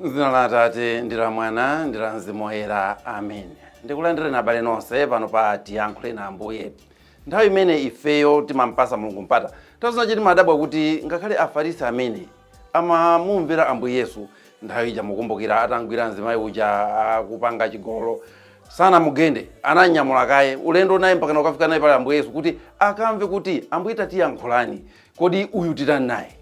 M'dzina la Atate ndi la Mwana ndi la Mzimu Woyera, amen. Ndikulandireni abale nonse pano pa Tiyankhuleni Ambuye. Nthawi imene ifeyo timampasa Mulungu mpata, nthawi zina timadabwa kuti ngakhale Afarisi amene amamumvera Ambuye Yesu nthawi ija mukumbukira atamgwira mzimayi uja akupanga chigololo sanamugende ananyamula kaye ulendo naye mpakana kukafika naye pali Ambuye Yesu kuti akamve kuti Ambuye tatiyankhulani kodi uyu titani naye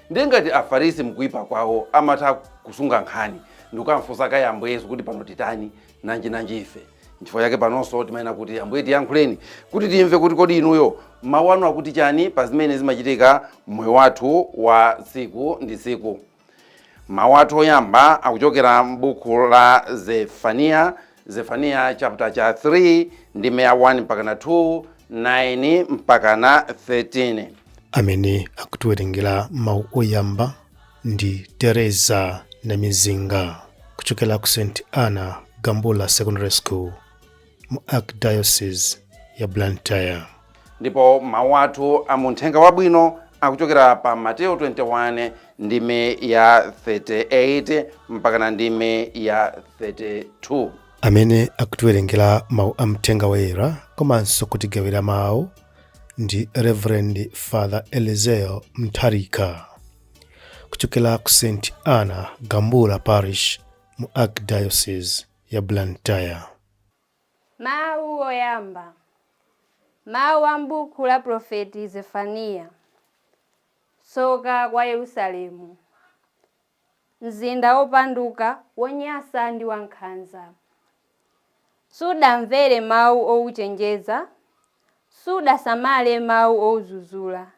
ndiye ngati afarisi mkuipa kwawo amatha kusunga nkhani ndikukamfunsa kaye Ambuye Yesu kuti pano titani nanji nanji ife nchifukwa chake panonso timayenera kuti ambuye tiyankhuleni kuti timve kuti kodi inuyo mawu anu akuti chani pa zimene zimachitika mmoyo wathu wa tsiku ndi tsiku mawu athu oyamba akuchokera m'buku la zefaniya zefaniya chapter cha 3 ndime ya 1 mpakana 2 9 mpakana 13 amene akutiwerengera mawu oyamba ndi Teresa Namizinga kuchokera ku St Anna Gambula Secondary School mu Archdiocese ya Blantyre. ndipo mawu athu a mu mthenga wabwino akuchokera pa mateyo 21 ndime ya 38 mpakana ndime ya 32 amene akutiwerengera mawu a mthenga woyera komanso kutigawira mawu ndi reverend father elizeo mtharika kuchokera ku st anna gambula parish mu archdiocese ya blantyre Mawu oyamba. Mawu a m'buku la Mprofeti Zefaniya. Tsoka kwa Yerusalemu, mzinda wopanduka, wonyansa ndi wankhanza. Sudamvere mawu ouchenjeza, sudasamale mawu oudzudzula.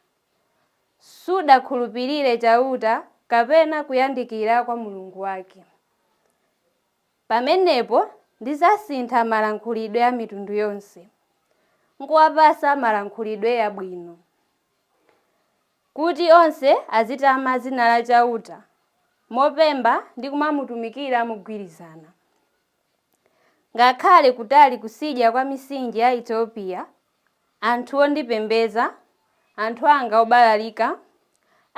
sudakhulupirire Chauta kapena kuyandikira kwa Mulungu wake. Pamenepo ndidzasintha malankhulidwe a mitundu yonse, nkuwapatsa malankhulidwe abwino, kuti onse azitama dzina la Chauta mopemba ndi kumamutumikira mogwirizana, ngakhale kutali kutsidya kwa mitsinje ya Etiopiya. anthu ondipembedza, anthu anga obalalika,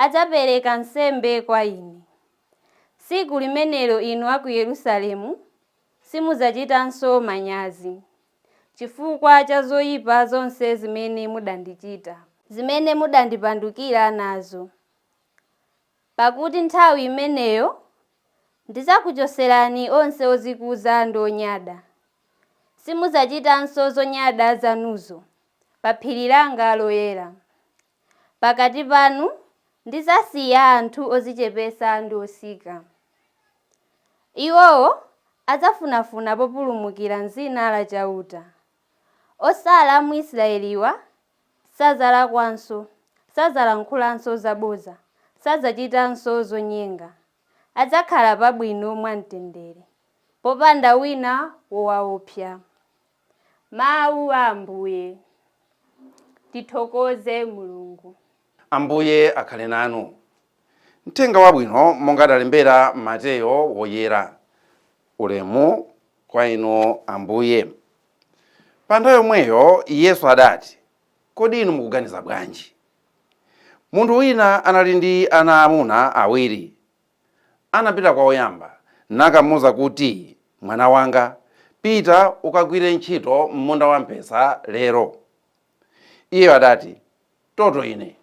adzapereka nsembe kwa ine. Tsiku limenelo inu a ku Yerusalemu simudzachitanso manyazi chifukwa cha zoyipa zonse zimene mudandichita. zimene mudandipandukira nazo. Pakuti nthawi imeneyo ndidzakuchotserani onse odzikuza ndi onyada. Simudzachitanso zonyada zanuzo pa phiri langa loyera. Pakati panu ndidzasiya anthu odzichepetsa ndi otsika. Iwowo adzafunafuna populumukira m'dzina la Chauta. Otsala a mu Isiraeliwa sadzalakwanso, sadzalankhulanso zabodza, sadzachitanso zonyenga. Adzakhala pabwino mwamtendere, popanda wina wowaopsa. Mawu a Ambuye. Tithokoze Mulungu. Ambuye akhale nanu. Mthenga Wabwino monga adalembera Mateyo Woyera. Ulemu kwa Inu Ambuye. Pa nthawi yomweyo Yesu adati, Kodi inu mukuganiza bwanji? Munthu wina anali ndi ana aamuna awiri. Anapita kwa woyamba nakamuuza kuti, Mwana wanga, pita ukagwire ntchito m'munda wamphesa lero. Iyeyo adati, Toto ine!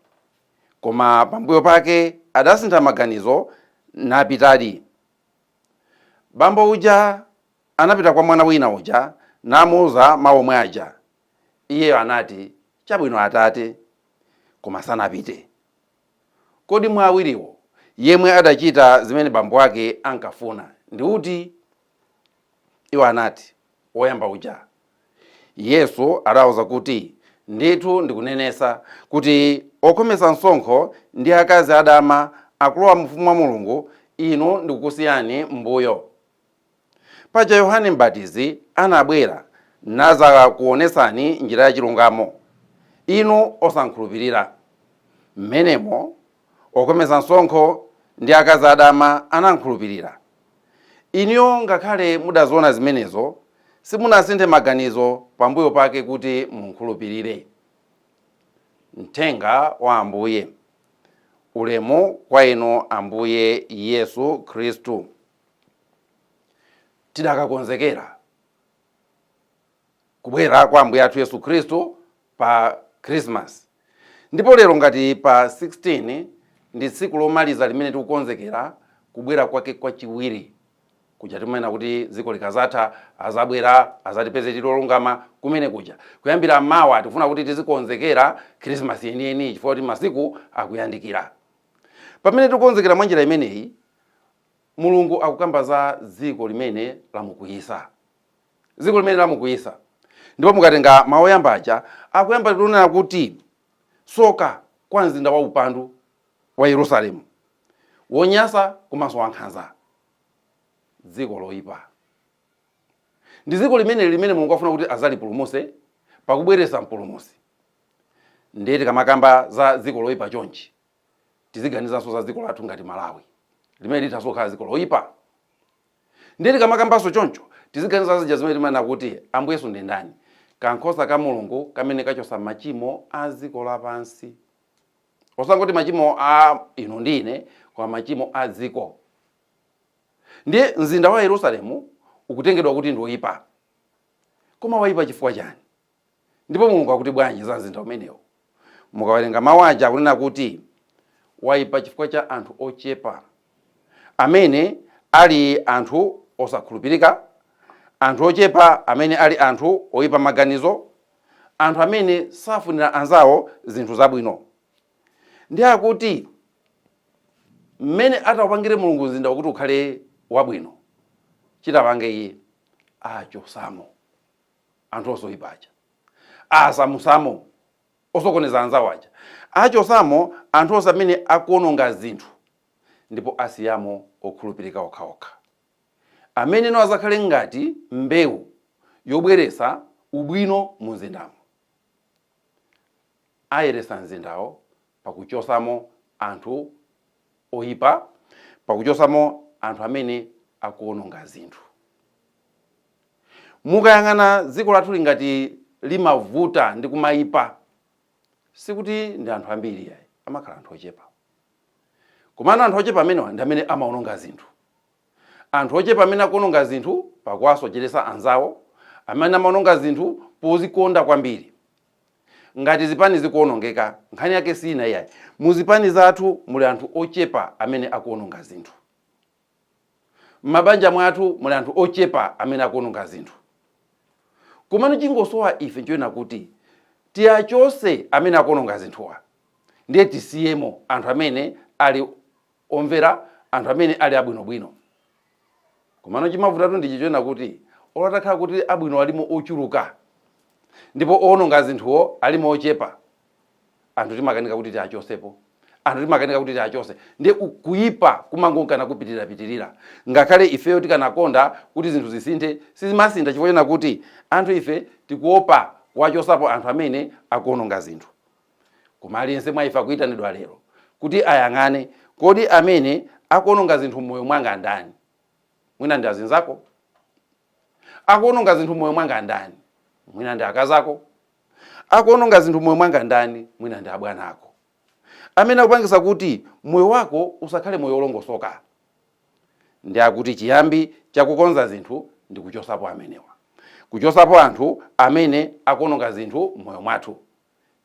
Koma pambuyo pake adasintha maganizo napitadi. Bambo uja anapita kwa mwana wina uja namuuza mawu omwe aja. Iyeyo anati, Chabwino atate. Koma sanapite. Kodi mwa awiriwo yemwe adachita zimene bambo wake ankafuna ndi uti? Iwo anati, Woyamba uja. Yesu adawauza kuti, Ndithu ndikunenesa kuti okhometsa msonkho ndi akazi adama akulowa m'ufumu wa Mulungu, inu n'kukusiyani m'mbuyo. Paja Yohane Mbatizi anabwera nadzakuwonetsani njira ya chilungamo, inu osamkhulupirira. M'menemo okhometsa msonkho ndi akazi adama anamkhulupirira. Inuyo ngakhale mudaziona zimenezo simunasinthe maganizo pambuyo pake kuti mumkhulupirire. Mthenga wa Ambuye Ulemu kwa Inu Ambuye Yesu Khristu. Tidakakonzekera. kubwera kwa Ambuye athu Yesu Khristu pa Christmas. Ndipo lero ngati pa 16 ndi tsiku lomaliza limene tikukonzekera kubwera kwake kwachiwiri kuja timanena kuti dziko likazatha azabwera azatipeze tili olungama kumene kuja kuyambira mawa tikufuna kuti tizikonzekera Christmas yeniyeni chifukwa kuti masiku akuyandikira pamene tikukonzekera mwa njira imeneyi mulungu akukamba za dziko limene lamukwiyisa dziko limene lamukwiyitsa ndipo mukatenga mawu oyamba aja akuyamba kunena kuti soka kwa mzinda wa upandu wa yerusalemu wonyasa komanso wankhanza dziko loyipa ndi dziko limene limene mulungu afuna kuti azalipulumuse pakubweretsa mpulumusi ndiye tikamakamba za dziko loyipa chonchi tiziganizanso za dziko lathu ngati malawi limene lithanso kukhala dziko loyipa Ndiye tikamakambanso choncho, tiziganiza zija zimene timanena kuti, Ambuye Yesu ndi ndani? Kankhosa ka Mulungu kamene kachotsa machimo a dziko lapansi. Osangoti machimo a inu ndi ine, koma machimo a dziko. Ndiye mzinda wa Yerusalemu ukutengedwa kuti ndi woipa. Koma waipa chifukwa chani? Ndipo Mulungu akuti bwanji za mzinda umenewu? Mukawerenga mawu aja akunena kuti, Waipa chifukwa cha anthu ochepa, amene ali anthu osakhulupirika, anthu ochepa amene ali anthu oipa maganizo, anthu amene safunira anzawo zinthu zabwino. Ndiye akuti mmene ataupangire Mulungu mzindawo kuti ukhale wabwino, chitapange iye, achosamo. anthu onse oipa aja asamusamo osokoneza anzawo aja achosamo anthu onse amene akuononga zinthu ndipo asiyamo okhulupirika okhaokha ameneno azakhale ngati mbewu yobweresa ubwino mu mzindamo Ayeretsa mzindawo pakuchotsamo anthu oipa, pakuchotsamo anthu amene akuwononga zinthu. Mukayang'ana dziko lathuli ngati limavuta ndi kumaipa, sikuti ndi anthu ambiri yayi, amakhala anthu ochepa. Komano anthu ochepa amenewa ndi amene amawononga zinthu. Anthu ochepa amene akuwononga zinthu pakuwasocheretsa anzawo amene amawononga zinthu pozikonda kwambiri. Ngati zipani zikuwonongeka, nkhani yake si ina iyayi. Mu zipani zathu muli anthu ochepa amene akuwononga zinthu. M'mabanja mwathu muli anthu ochepa amene akuwononga zinthu. Komano chingosowa ife nchonena kuti tiachotse amene akuwononga zinthuwa ndiye tisiyemo anthu amene ali omvera anthu amene ali abwinobwino. Komano chimavutatu ndi ichi chonena kuti, olo atakhala kuti abwino alimo ochuluka ndipo owononga zinthuwo alimo ochepa, anthu timakanika kuti tiachosepo, anthu timakanika kuti tiachose ndiye kuipa kumangonka nakupitirirapitirira ngakhale ifeyo tikanakonda kuti zinthu zisinthe, sizimasintha chifukwa chonena kuti anthu ife tikuopa kuwachosapo anthu amene akuononga zinthu. Koma aliyense mwa ife akuitanidwa lero kuti ayang'ane, kodi amene akuononga zinthu m'moyo mwanga ndani? Mwina ndi azinzako? Akuononga zinthu m'moyo mwanga ndani? Mwina ndi akazako? Akuononga zinthu m'moyo mwanga ndani? Mwina ndi abwana ako? Amene akupangisa kuti moyo wako usakhale moyo olongosoka? Ndi akuti chiyambi chakukonza zinthu ndi kuchosapo amenewa. Kuchosapo anthu amene akuononga zinthu m'moyo mwathu.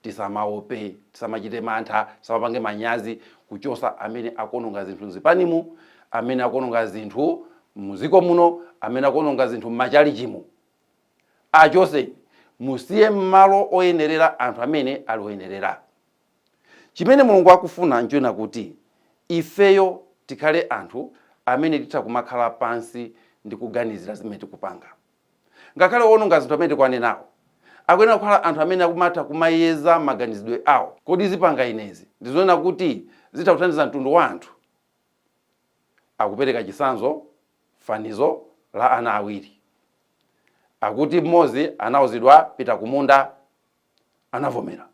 tisamaope, tisamachite mantha, tisamapange manyazi kuchosa amene akuononga zinthu mzipanimu, amene akuononga zinthu muziko muno, amene akuononga zinthu mmachalichimu. Achose musiye mmalo oyenerera anthu amene ali oyenerera. Chimene Mulungu akufuna nchonena kuti ifeyo tikhale anthu amene titha kumakhala pansi ndikuganizira zimene tikupanga. Ngakhale owononga zinthu amene tikuwanenawo, akuyenera kukhala anthu amene akumatha kumayeza maganizidwe awo. Kodi zipanga inezi ndi zonena kuti zitha kuthandiza mtundu wa anthu? Akupereka chitsanzo fanizo la ana awiri. Akuti mmodzi anauzidwa pita kumunda, anavomera,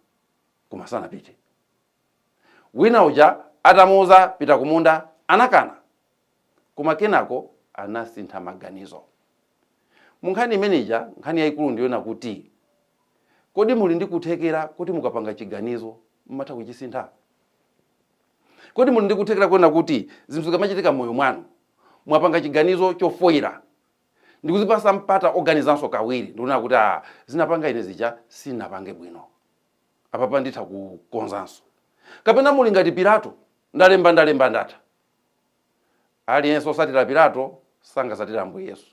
koma sanapite. Wina uja atamuuza pita kumunda anakana. Koma kenako anasintha maganizo. Mu nkhani imene ija, nkhani yayikulu ndi yonena kuti kodi muli ndi kuthekera koti mukapanga chiganizo mumatha kuchisintha? Kodi muli ndi kuthekera konena kuti zinthu zikamachitika m'moyo mwanu, mwapanga chiganizo chofoila ndikuzipasa mpata oganizanso kawiri ndikunena kuti aah zinapanga ine zija sinapange bwino? Apapa nditha kukonzanso. Kapena muli ngati Pilato, Ndalemba, ndalemba, ndatha. Aliyense osatira Pilato sangasatire Ambuye Yesu.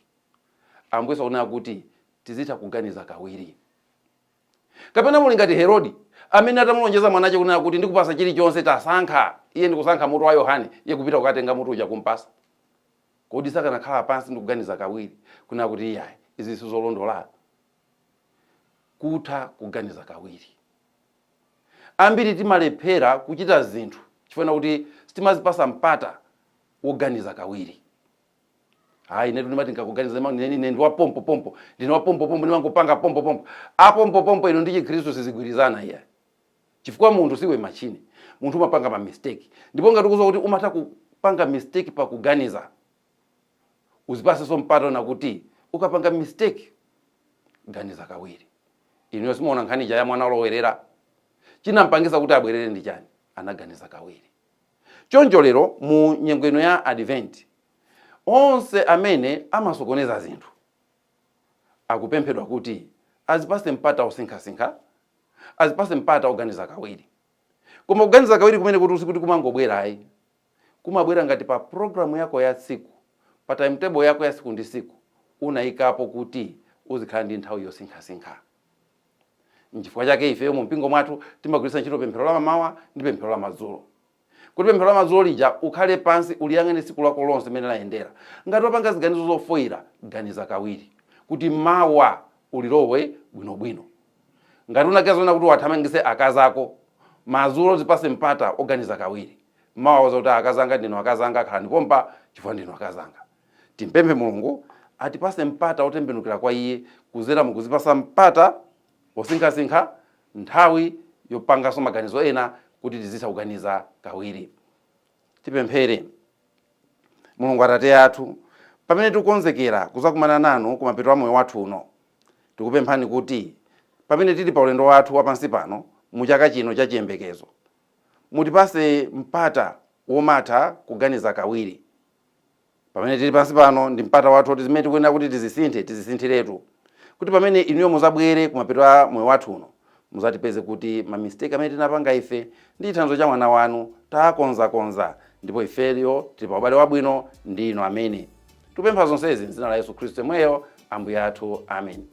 Ambuye Yesu akunena kuti tizitha kuganiza kawiri. Kapena muli ngati Herodi, amene atamulonjeza mwanache kunena kuti ndikupasa chilichonse tasankha, iye ndikusankha mutu wa Yohane, iye kupita kukatenga mutu uja kumpasa. Kodi sakanakhala pansi ndikuganiza kawiri, kunena kuti iyayi, izi sizolondola? Kutha kuganiza kawiri. Ambiri timalephera kuchita zinthu chifukwa chakuti sitimazipasa mpata woganiza kawiri. Ayi, inetu ndimati ndikaganiza ine ndi wa pompo pompo, ndine wa pompo pompo, ndimangopanga pompo pompo. A pompo pompo inu ndi Chikhristu sizigwirizana iya. Chifukwa munthu siwe machine. Munthu umapanga ma mistake. Ndipo ngati ukuziwa kuti umatha kupanga mistake pa kuganiza, uzipasenso mpata wonena kuti ukapanga mistake ganiza kawiri inuyo simuona nkhani ija ya mwana olowerera chinampangisa kuti abwerere ndi chani anaganiza kawiri choncho lero mu nyengo ino ya advent onse amene amasokoneza zinthu akupemphedwa kuti azipase mpata osinkhasinkha azipase mpata oganiza kawiri koma kuganiza kawiri kumeneku sikuti kumangobwera ayi kumabwera ngati pa program yako ya tsiku, pa timetable yako ya siku ndi siku unayikapo kuti uzikhala ndi nthawi yosinkhasinkha. Nchifukwa chake ife mu mpingo mwathu timagwiritsa ntchito pemphero la mamawa ndi pemphero la madzulo. Kuti pemphero la madzulo lija ukhale pansi uliyang'ane tsiku lako lonse mmene layendera. Ngati wapanga ziganizo zofoyira, ganiza kawiri kuti mawa ulilowe bwinobwino. Ngati unaganiza zonena kuti uwathamangitse akazi ako, madzulo uzipase mpata oganiza kawiri. Mawa uwauze kuti akazi anga ndinu akazi anga, khalani pompa chifukwa ndinu akazi anga. Timpemphe Mulungu atipase mpata otembenukira kwa iye kuzera mukuzipasa mpata osinkhasinkha, nthawi yopanganso maganizo ena kuti tizitha kuganiza kawiri. Tipemphere. Mulungu Atate athu, pamene tikukonzekera kuzakumana nanu kumapeto a moyo wathu uno, tikupemphani kuti pamene tili pa ulendo wathu wa pansi pano mu chaka chino cha chiyembekezo, mutipase mpata womatha kuganiza kawiri. Pamene tili pansi pano ndi mpata wathu woti zimene tikuyenera kuti tizisinthe, tizisinthiretu. Kuti pamene inuyo muzabwere kumapeto a moyo wathu uno, muzatipeze kuti ma mistake amene tinapanga ife ndi chithandizo cha mwana wanu taakonzakonza ndipo ifeyo tili pa ubale wabwino ndi inu amene. Tikupempha zonsezi m'dzina la Yesu Khristu yemweyo Ambuye athu. Ameni.